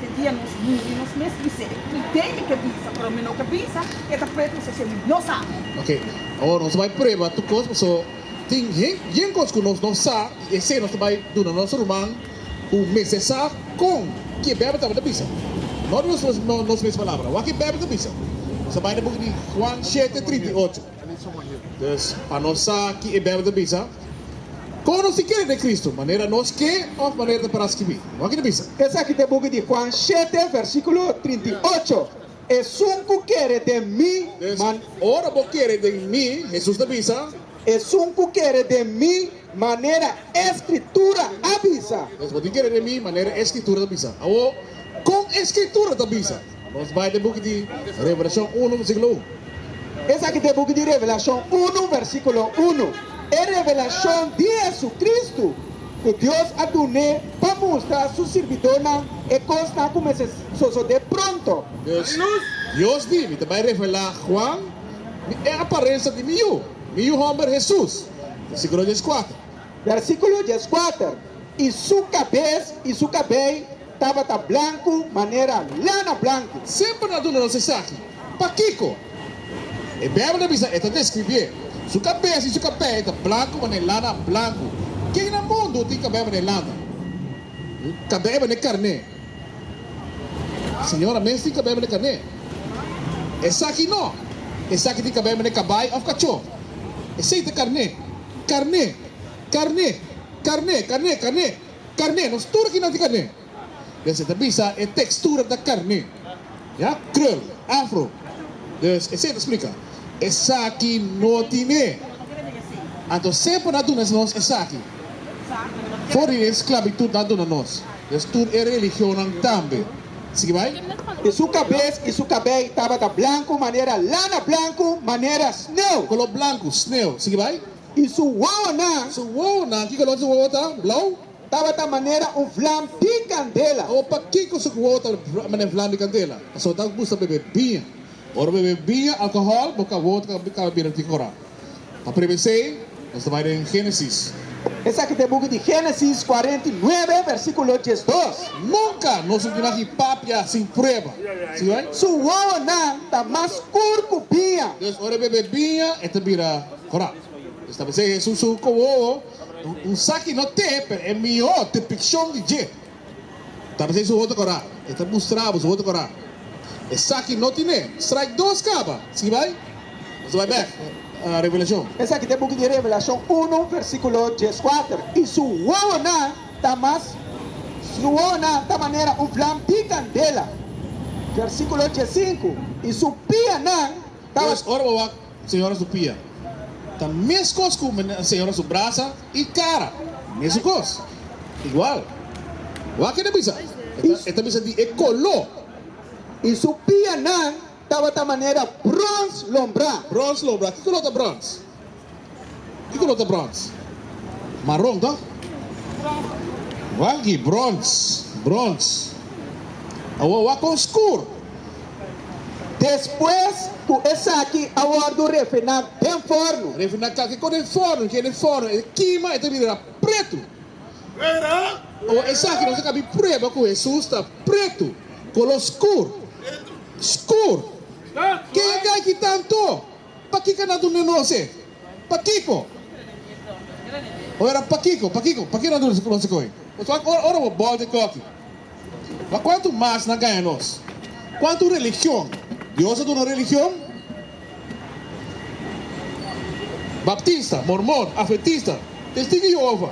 Te dia nos muri nos mes bis'é, i dei mi ke bisa, pero mi no ke bisa, e ta pret kusé semi no sa. Ok, awor nos ta bai prueba tur kos, paso tin yen kos ku nos no sa, i esei nos ta bai duna nos ruman ku mester sa kon ki e Beibel tabata bisa, no di nos mes palabra, wak e Beibel ta bisa. Nos ta bai na buki di Huan shete trinta i ocho. Pues, pa nos sa ki e Bijbel ta bisa, kon nos tin kere den Kristu, manera nos ke òf manera ta para skibi? Wak ta bisa. Esaki ta e buki di Juan shete, versíkulo trinta i ocho, Esun ku kere den mi, man. Ora bo kere den mi, Hesus ta bisa. Esun ku kere den mi, manera e Skritura a bisa. Pues, bo tin kere den mi, manera e Skritura ta bisa. Awor, kon e Skritura ta bisa? Nos bai den buki di Revelashon unu, versíkulo un. Esaki ta e buki di Revelashon unu, versíkulo unu, e revelashon di JesuCristu ku Dios a dun'é pa mustra su sirbidónan e kosnan ku mester sosodé pronto. Pues, Dios di mi ta bai revelá Juan mi e aparensa di mi yu, mi yu hòmber Hesus, versíkulo dieskuater. Versíkulo dieskuater, i su kabes i su kabei Tabata blanku manera lana blanku. Semper ta duna nos esaki. Pakiko? E Beibel ta bisa, e ta deskribié, Su kabes i su kabei e ta blanku manera lana blanku. Ken na mundu tin kabei manera lana? Kabei manera karné. Señora mes tin kabei manera karné? Esaki no. Esaki tin kabei manera kabai òf kachó. Esei ta karné. Karné. Karné. Karné. Karné. Karné. Carne, nos tur aki nan tin carne. Des e ta bisa e textura ta carne. Ya, Krul, Afro. Dus esey ta splica. Esaki no tin e. Anto semper nan a duna nos esaki. For di e esclavitud nan a duna nos. Dus tur e religionnan tambe. Sigui bay. I su cabes i su cabey tabata blancu manera lana, blancu manera sneu. Color blancu, sneu. Sigui bay. I su wowonan. Su wowonan, ki kolor su wowo ta? Blou? Tabata manera un vlam di kandela. Awor pakiko su wowo ta manera vlam di kandela? Pasobra ta gusta bebe biña. Ora bebe biña, alkohòl, bo ka wowo ta kaba bira tin kora. Pa prueba esei, nos ta bai den Génesis. Esaki ta e buki di Génesis kuarenta i nuebe, versíkulo diesdos. Nunka nos no tin mas ki papia sin prueba. Si bai? Su wowonan ta mas skur ku biña. Entonces, ora e bebe biña, e ta bira Ora e sta mesei Hesus su kowowo, un saki no te, pero e mihó depikshon di dje ta mesei su hoto kora. E ta mustra bo su hoto kora. E saki no tine straik dos kaba. Si bai, nos a bai bèk na Revelashon. Esaki ta e buki di Revelashon unu, versíkulo dieskuater, I su wowonan ta mas, su wowonan ta manera un vlam di kandela, versíkulo diesinku, i su pianan Pues, ora bo wak señora su pia, ta meskos ku señora su brasa i kara, mesun kos, igual. Wak ke ta bisa? E ta bisa di e koló. I su pianan tabata manera brons lombrá. Brons lombrá. Ki koló ta brons? Kiko lo ta brons? Maron to? Waggi, Brons, brons. Awor wak kon skur. Despues ku esaki a wòrdu refiná den forno. Refiná ka? Kiko den forno? Ke den forno e kima, e ta bira pretu. Awor esaki nos a kap'i prueba ku Hesus ta pretu, kolor skur. Skur! Ke a kai ki tantu? Pakiko nan duna nos e? Pakiko? Oe ra pakiko, pakiko, pakiko nan duna nos e koe? Nos wak ora ora bo bòl den kòki. Ma kuantu mas nan gaña nos? Kuantu religion? Dios a duna religion? Baptista, Mormon, Adventista, Testigu di Yehova.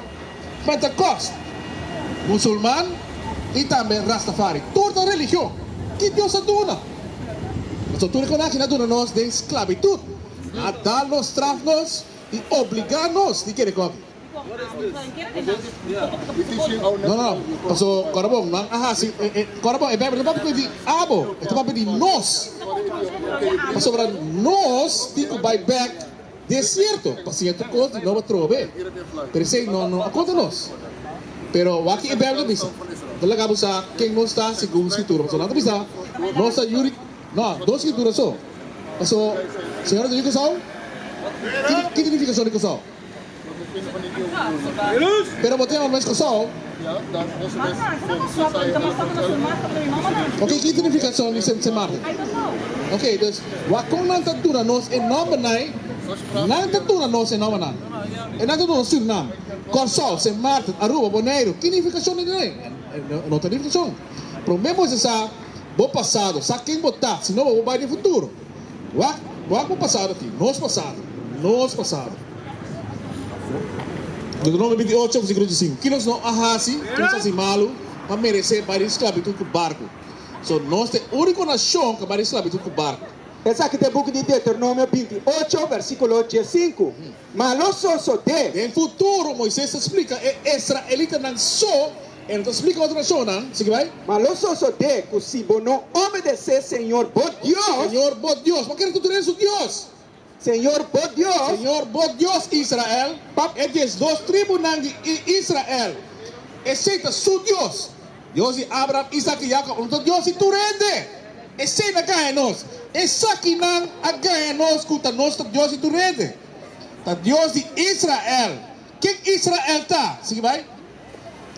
Pentecost, Musulman y tambe Rastafari. Tur ta religion. Ki Dios a duna? Paso tur e conaci na duna nos den sclavitud, a da nos, straf nos y obliga nos di kere cogi. No, no, paso corabon nan a haci, corabon e Bijbel no ta papia di abo, e ta papia di nos. Pasobra nos tin cu bay bek. Di e sierto, pa sierto cos di nobo trobe, pero esey no no a conta nos. Pero wak-y e Bijbel a bisa, Bo laga bo sa ken nos ta segun Scritura, pasobra nan ta bisa nos ta yuri no dos Scritura so. Paso, Señor a duna e cosao? Ki significacion di cosao? Pero bo tin ora mes cosao? Okay, ki identificacion di semsemahal? Okay, dus wak kon nan ta duna nos e nombernan? Nan ta duna nos e nombernan. E nan ta duna nos Surinam, Corsou, Sint Maarten, Aruba, Boneiro. Ki nificacion di nan ei? No ta nificacion. Prome bo mester sa bo pasado, sa ken bo ta, sino bo bai di futuro. Wak, wak bo pasado aki, nos pasado, nos pasado. Deuteronomio bintiocho, versikulo diesink, Kilos no a hasi, kilos hasi malu, pa meresé bai den sklabitut ku barku? So, nos ta e úniko nashon ku a bai den sklabitut ku barku. Esaki ta e buki di Deuteronomio bintiocho, versikulo diesinku. Ma lo sosodé. Den futuro, Moises ta splika e esraelitanan so, e no ta splika otro nashonnan. Sigui bai. Ma lo sosodé ku si bo no obedesé Señor bo Dios. Señor bo Dios. Bo kere ku tur den su Dios. Señor bo Dios. Señor bo Dios, Israel. Pa. E diesdos tribunan di Israel. Esei ta su Dios. Dios di Abraham, Isaac i Jacob lo ta Dios di tur hende. Esei na gaña nos. Esakinan a gaña nos ku ta nos ta Dios di tur hende. Ta Dios di Israel. Ken Israel ta? Sigui bai.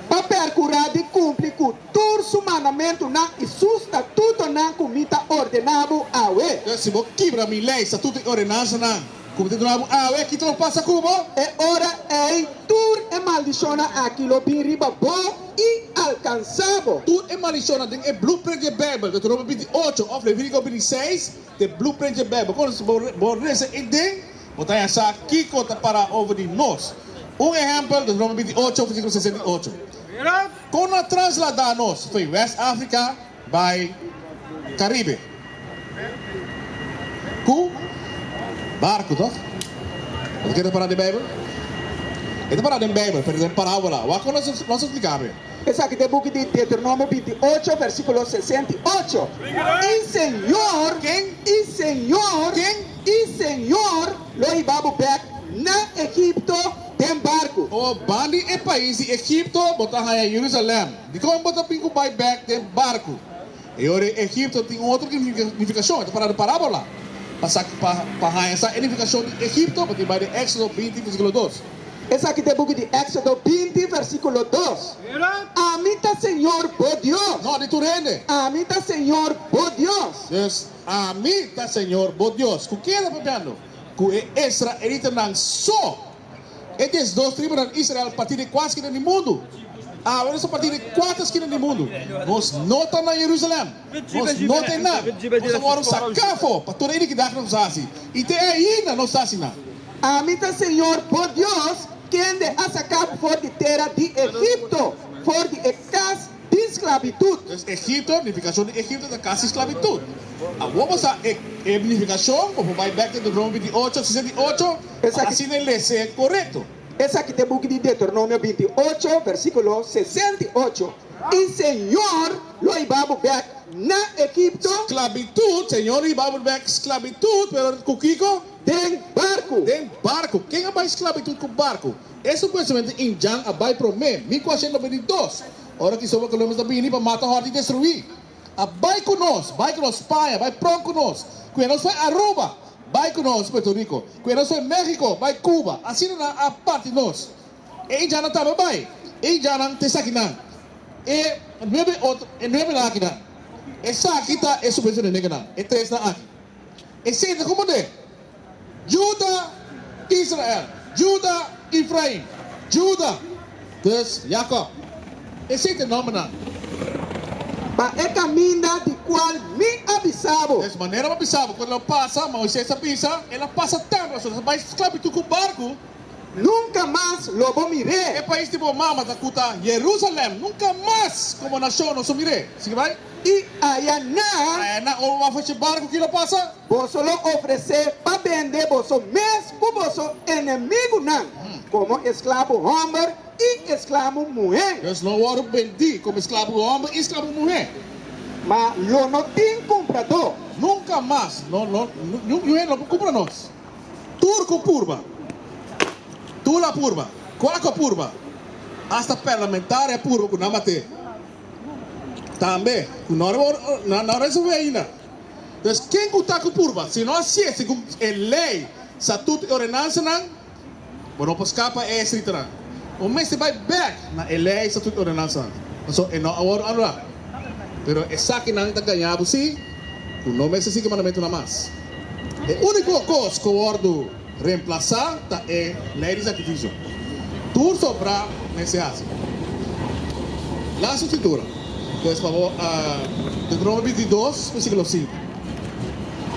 Pa perkurá di kumpli ku tur su mandamentunan i su statutonan ku mi ta ordená bo awe. Si bo kibra mi lei, statuto i ordenansanan. Ku bo ta duna bo awe, kiko lo pasa ku bo? E ora ei tur e maldishonnan aki lo bin riba bo i alkansá bo. Tur e maldishonnan den e Blueprint dje Beibel, Deuteronomio binti ocho òf Levítico binti seis, t'e Blueprint dje Beibel. Kono bo bo resa ei den, bo ta haña sa kiko ta pará over di nos. Un ehèmpel, Deuteronomio binti ocho, versíkulo sesenta i ocho. Kono a trasladá nos? Fe, West Africa, bai Caribe cu barco toch? Nos a keda para den Bijbel? E ta para den Bijbel pero den parabola. Wak cu nos a splica awe. Esaki ta e buki di Deuteronomio binti ocho versiculo sesenta y ocho, I Señor, I Señor, I Señor lo hiba bo bek na Egipto den barco. Bo ban di e pais di Egipto, bo ta haya Jerusalem. Dikon bo ta bin ku bai bèk den barku? E ora ei Egipto tin un otro nifikashon. E ta pará den parábola. Pa haña sa e nifikashon di Egipto, bo tin bai den Èksodo binti, versíkulo dos. Esaki ta e buki di Èksodo binti, versíkulo dos. Ami ta Señor bo Dios. No, di tur hende. Ami ta Señor bo Dios. Dus, Ami ta Señor bo Dios. Ku ken e ta papiando? Ku e israelitanan so. E des dos tribunan di Israel parti den kua skina di mundu. Awe nos a parti den kuater skina di mundu. Nos no ta na Jerusalem. Nos no ta einan. Nos a wòrdu saká afó pa tur e inikidat ku nos a hasi, i te ainda nos ta asina. Ami ta señor bo Dios, kende a saka bo for di tera di Egipto, for di e kas. di sklabitut. Pues Egipto, nifikashon di Egipto ta kasi sklabitut. Awor bo sa e e nifikashon? Bo por bai bèk Deuteronomio binti ocho, sisa di ocho, pa así nan e lese korekto. Esaki ta e buki di Deuteronomio binti ocho, versíkulo sesenta i ocho, I Señor lo hiba bo bèk na Egipto. Sklabitut, Señor lo hiba bo bèk sklabitut, pero ku kiko? Den barku. Den barku. Ken a bai sklabitut ku barku? E supuestamente Injan a bai prome, mi ku Ashen lo bai di dos, ora Cristobal Columbus ta bini pa mata hòrt i destruí. A bai ku nos, bai ku nos Spaña, bai pròn ku nos, ku e nos fue Aruba, bai ku nos Puerto Rico, ku e nos fue México, bai Cuba, asina nan a parti nos. E Injannan tambe bai, e Injannan ta esaki nan, e nuebe otro, e nuebenan aki nan. Esaki ta e supuestamente negenan, e tresnan aki. E sente komo de. Juda, Israel. Juda, Efraim. Juda, dus Jakob. E sete nombernan. Pa e kaminda di kual mi a bisa bo. Des manera bo bisa bo. Kon el lo pasa, Moises a bisa, el a pasa tèmpel asun, el a bai sklabitut ku barku. Nunka mas lo bo mir'é. E pais di bo mama ta ku ta Jerusalèm, nunka mas komo nashon lo su mir'é. Sigui bai. I aya na. Aya na o wak hochi barku ki lo pasa. Boso lo ofresé pa bende boso mes ku boso enemigunan komo esklabu hòmber i esklabu muhé. Nos lo wòrdu bendí komo esklabu hòmber i esklabu muhé. Ma lo no tin kumpradó. Nunka mas no lo niun hende lo por kumpra nos. Tur ku purba, tula purba, kuako purba, asta pèrlamentaria purba ku nan bat'é. Tambe ku no a resolve ainda. Pues ken ku ta ku purba? Si no a sisti ku e lei, statut i ordenansanan, bo no por skapa e estriktonan. Bo mester bai bek na e lei, statut i ordenansanan. Pasobra e no a wòrdu anulá. Pero esakinan ta gaña bo si ku no mester sigui mandamentunan mas. E úniko kos ku a wòrdu. Remplasá ta e lei di sakrifisio. Tur sobrá mester hasi. Las Eskritura, pues fabor, Deuteronomio bintidos, versíkulo sinku.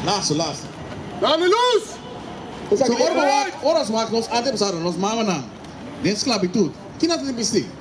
Lasu, las. Ta di lus. Esaki di e lei. Ora nos wak nos antepasadonan, nos mamanan, den sklabitut, kina ta tin bisti?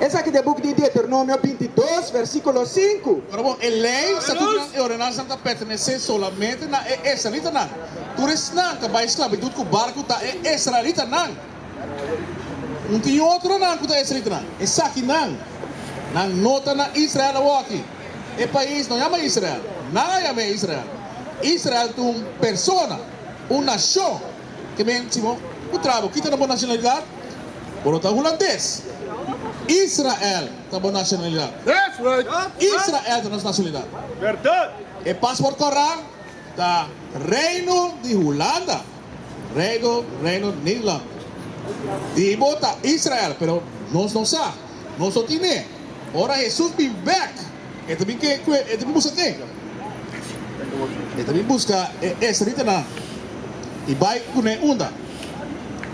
Esaki ta e buk di Deuteronomio binti dos, versikulo sinku. Ora bo, e lei, statutonan i ordenansanan ta pertenesé solamente na e israelitanan. Tur esnan ta bai sklabitut ku barku ta e israelitanan. Un tin otronan ku ta israelitanan. Esakinan, nan no ta na Israel awoki. E pais no yama Israel. Nan a yam'é Israel. Israel ta un persona, un nashon. ke men si bo ku tra bo kita na bo nashonalidat, bo lo ta hulandes. Israel ta bo nashonalidat. Israel ta nos nashonalidat. E pasport kòrá ta Reino di Hulanda, Reino Reino Nederland. Di bo ta Israel pero nos no sa, nos no tine. Ora Hesus bin bèk. E ta bin ke kue e ta bin buska ke? E ta bin buska e esritanan i bai kuné unda?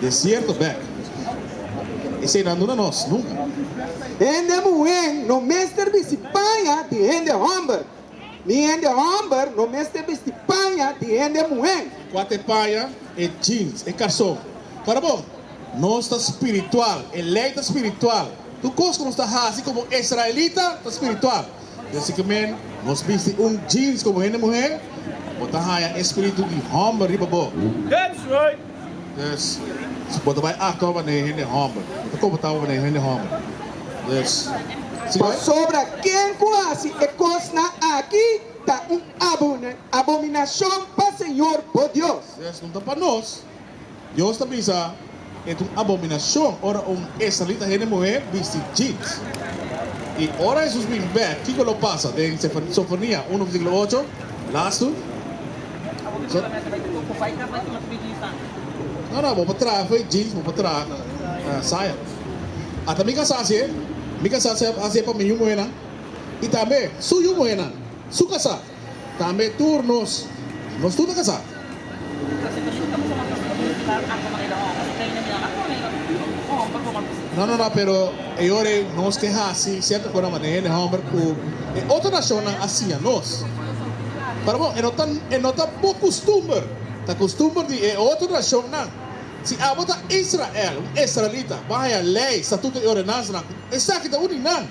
Desierto bèk. Eseinan duna nos nunka. Hende muhé no mester bisti paña di hende hòmber, ni hende hòmber no mester bisti paña di hende muhé. Kua ta e paña e jeans, e kason? Para bo? Nos ta spiritual. E lei ta spiritual. Tur kos ku nos ta hasi komo israelita ta spiritual. Di así ku men nos bisti un jeans komo hende muher, bo ta haña e spiritu di hòmber riba bo. Dus, si bo ta bai aktua manera e hende hòmber, bo ta komportá bo manera e hende hòmber. Dus, sigue bai. Pasobra ken ku hasi e kosnan akí ta un abominashon pa señor bo Dios. Dus, no ta pa nos. Dios ta bisa, E ta un abominacion ora un israelita hende muhé bisti jeans. I ora Hesus bin bè, kiko lo pasa? Den Sofonia uno versíkulo ocho, las tur. Abo ta bisa mester bai ta grupo bai kas bai tuma su bidis tambe? No, no, bo por traha fo'i jeans, bo por traha saya. Ata mi kasá hasié, mi kasá hasié pa mi yu muhénan i tambe su yu muhénan, su kasá. Tambe tur nos, nos tur ta kasá. No, no, no, pero e ora ei nos ke hasi sierto kosa mané hende hòmber ku e otro nashonnan a siña nos. Para bo, e no ta, e no ta bo kustumber, ta kustumber di e otro nashonnan. Si abo ta Israel, un israelita, bahaya lei, statuto i ordenansanan, esaki ta uni nan.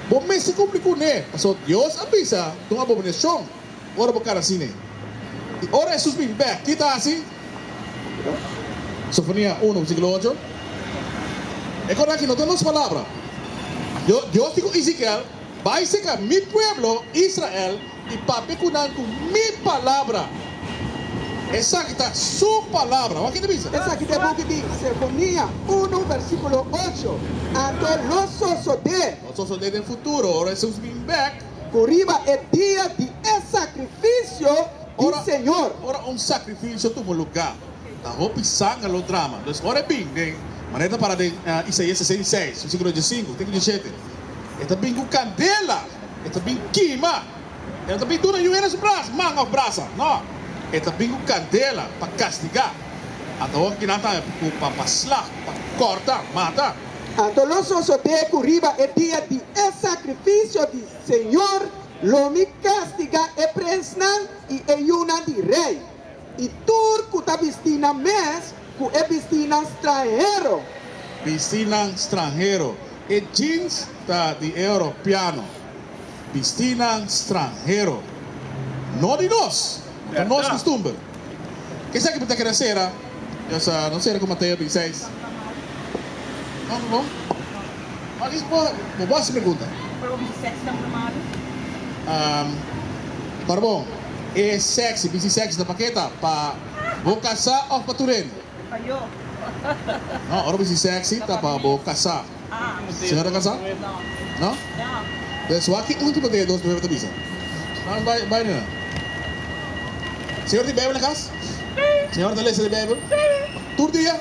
Bo mester cumpli cune, pasobra Dios a bisa, Ta un abominacion ora bo cara asine. Y ora Jesús bin bek, ki ta haci? Sofonía uno, versiculo ocho, E cos aki no ta nos palabra. Dios di cu Ezekiel, Bai seca mi pueblo Israel I papia ku nan ku mi palabra, esaki ta su palabra. Wak kende bisa? Esaki ta e buki di Sefonia unu versíkulo ocho, Anto lo sosodé. Lo sosodé den futuro, ora Hesus bin bèk. Ku riba e dia di e sakrifisio di Señor. Ora un sakrifisio tuma lugá. Ta hopi sanga lo drama. Los ora e bin den maneta para den Isaias sesenta i seis, versikulo diesinku te ku diesete, e ta bin ku kandela, e ta bin kima. E no ta bin duna yu eres bras, man òf brasa. No. E ta bin ku kandela pa kastigá. Anto hopi kinan ta pa sla, pa kòrta, mata. Anto lo sosodé ku riba e dia di e sakrifisio di Señor lo mi kastigá e prensnan i e yunan di rei. I tur ku ta bisti nan mes ku e bisinan stranhero. Bisinan stranhero, E jeans ta di e Europiano. Bisinan stranhero, No di nos, no ta nos kustumber. Kesaki bo ta kere sera? Ya sa, no sera ku Mateo bin seis. No, no, no i bo bo hasi pregunta. Para bo bisi sexy ta un na malu? Para bo. E sexy, bici sexy ta pa ke ta? Pa bo casá of pa tu rende? Pa yo. No, ora bici sexy ta pa bo casá. Señora ta casá? No. No? Entonces wak ki ultimo den e dos prueba ta bisa. Nan nos bai bai nena. Señor tin Bijbel na cas? Señor ta lesa di Bijbel? Tur dia?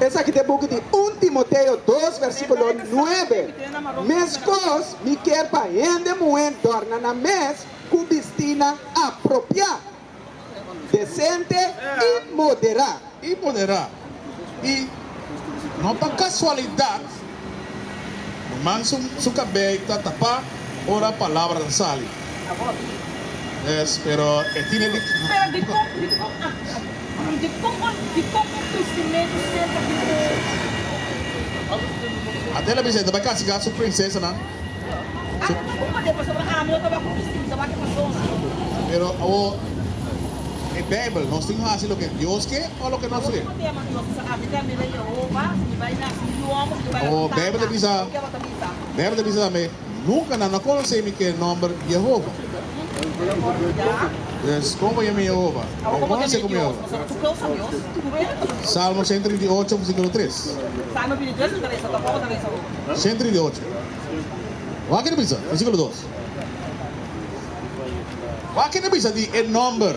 Esaki ta e buki di Un Timoteo dos versikulo nuebe, Mes kos mi kier pa hende muhé dòrna nan mes ku bistinan apropiá, desente i moderá. I moderá. I no pa kasualidat. Manman su kabei ta tapá ora palabranan sali. Yes, pero e tine di. Pero dikon, dikon a, dikon un, dikon un kristimentu serka di Jehoba? Ate lo bisa e ta bai kastigá su prinsesanan. Ata ku bo mane, pasobra ami no ta bai ku mi stim, ta bai ku e pasonan. Pero awor, e Beibel, nos tin hasi loke Dios ke o loke nos ke? O Beibel ta bisa, Beibel ta bisa tambe, Nunka nan a konosé mi k'e nòmber Yehova. Pues, komo ku yami Yehova? Bon konosé komo Yehova. Salmo senta trinta i ocho, versíkulo tres. Senta trinta i ocho. Wak e ta bisa, versíkulo dos. Wak e ta bisa di e nòmber.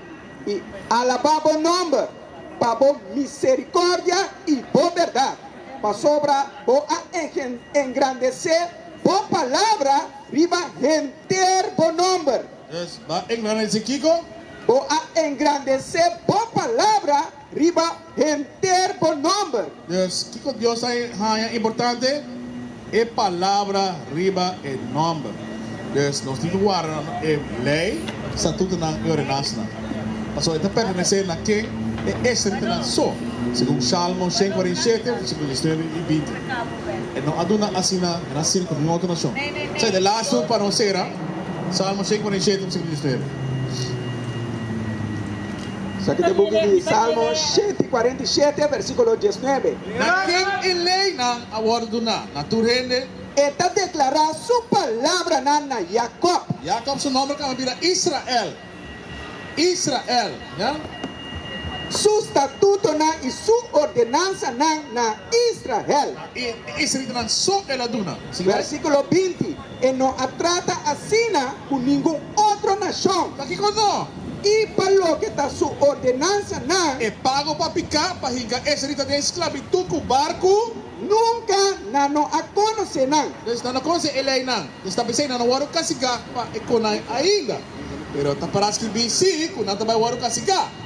i alabá bo nòmber pa bo miserikòrdia i bo bèrdat, pasobra bo a engrandesé bo palabra riba henter bo nòmber. Bo a engrandesé bo palabra Riba henter bo nomber. Dus, kiko Dios a haña importante? E Palabra riba e nomber. Dus, nos tin di warda e lei, statutonan i ordenansanan. Pasobra e ta pertenesé na ken? E estrictonan so, segun Shalmo shen kua rin shete, versiklo diecinuebe i binti. E no a duna asina na sin ku ningun otro nashon. Sa i ta e lastu pa nos sera, Shalmo shen kua rin shete, versiklo diecinuebe. Sa ki ta buki di Salmo shenti kuarenta i shete, versíkulo dies nuebe? Na ken e leinan a wòrdu duná? Na tur hende? E ta deklará su palabranan na Jakòb. Jakòb su nòmber kamba bira Israel, Israel, ja? Su statutonan i su ordenansanan na Israel. I e israelitanan so el a duna. Versíkulo binti. E no a trata asina ku ningun otro nashon. Pa kiko no? I pa loke ta su ordenansanan. E pago pa piká, pa hinka eseri ta den sklabitut ku barku. Nunka nan no a konosé nan. Pues nan no konosé e leinan. Nos ta pensá i nan no wòrdu kastigá pa e konai ainda. Pero ta pará skibí sí ku nan ta bai wòrdu kastigá.